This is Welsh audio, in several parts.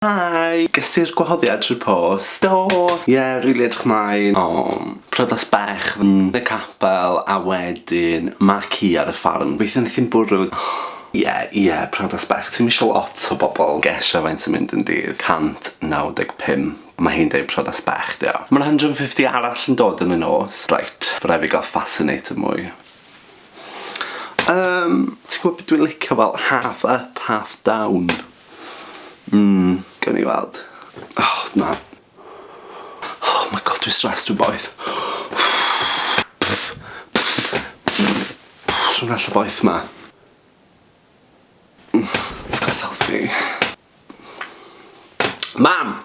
Hi! Ges ti'r gwahoddiad trwy'r post? Do! Ie, rili edrych mlaen. O! Priodas bach yn y capel a wedyn mae ci ar y ffarm. Gobeithio neith hi'm bwrw. Ie, ie, priodas bach. Ti'm isio lot o bobl gesio faint sy'n mynd yn dydd? 195. Mae hi'n deud priodas bach 'di o. Ma'r 150 arall yn dod yn y nos. Reit, by' rai' fi gael fascinator mwy. Yym, ti'n gwbod be dwi'n licio? Wel, half up, half down. Mmm, gawn ni weld. Oh, na. Oh my God, dwi'n stressed, dwi'n boeth. Dwi'n well o boeth 'ma. Let's get a selfie. Mam!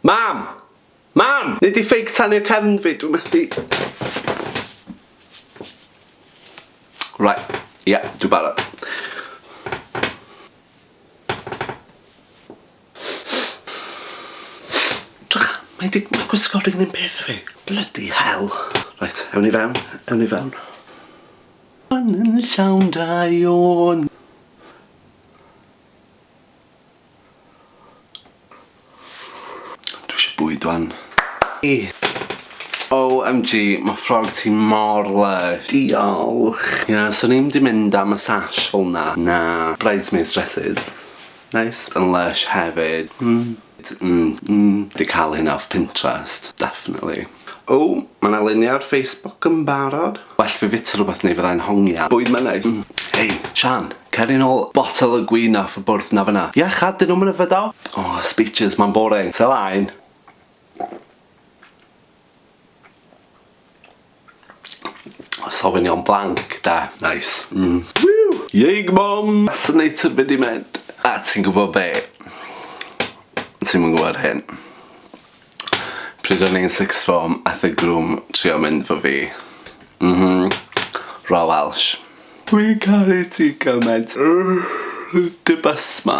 Mam! Mam! Nei di ffeic tanio cefn fi, dwi methu. Right, ie, dwi barod. Drych, mae di, mae gwisgo ring ddim peth i fi. Bloody hell. Right, ewn i fewn, ewn i fewn. Yn llawn da iawn. Dwi isio bwyd wan. Hi! OMG, ma ffrog ti mor lysh. Diolch. Ie, swn i'm di mynd am y sash fel na. Na. Bridesmaids dresses. Neis. Yn lysh hefyd. Mm. Mm. Mm. Di cael hynna off Pinterest. Definitely. O! Mae 'na luniau ar Facebook yn barod. Well fi fita rhywbeth neu fydda i'n hongian. Bwyd mynydd. Hei, Siân, cer i nôl botel o gwin off y bwrdd 'na fan'na. Ia, chad, dyn nhw'm yn yfed o? O, speeches, mae'n boring. Cer 'mlaen. Os ofi'n iawn, blanc, de. Nice. Mm. Whew! Yeig Mom! Fascinator be di mynd? A ti'n gwybod be? Ti'm yn gwybod hyn. Pryd o'n i'n sixth form ath y groom trio mynd 'fo fi. M-hm. Raw Welsh. Dwi'n caru ti gymaint. Dim asthma.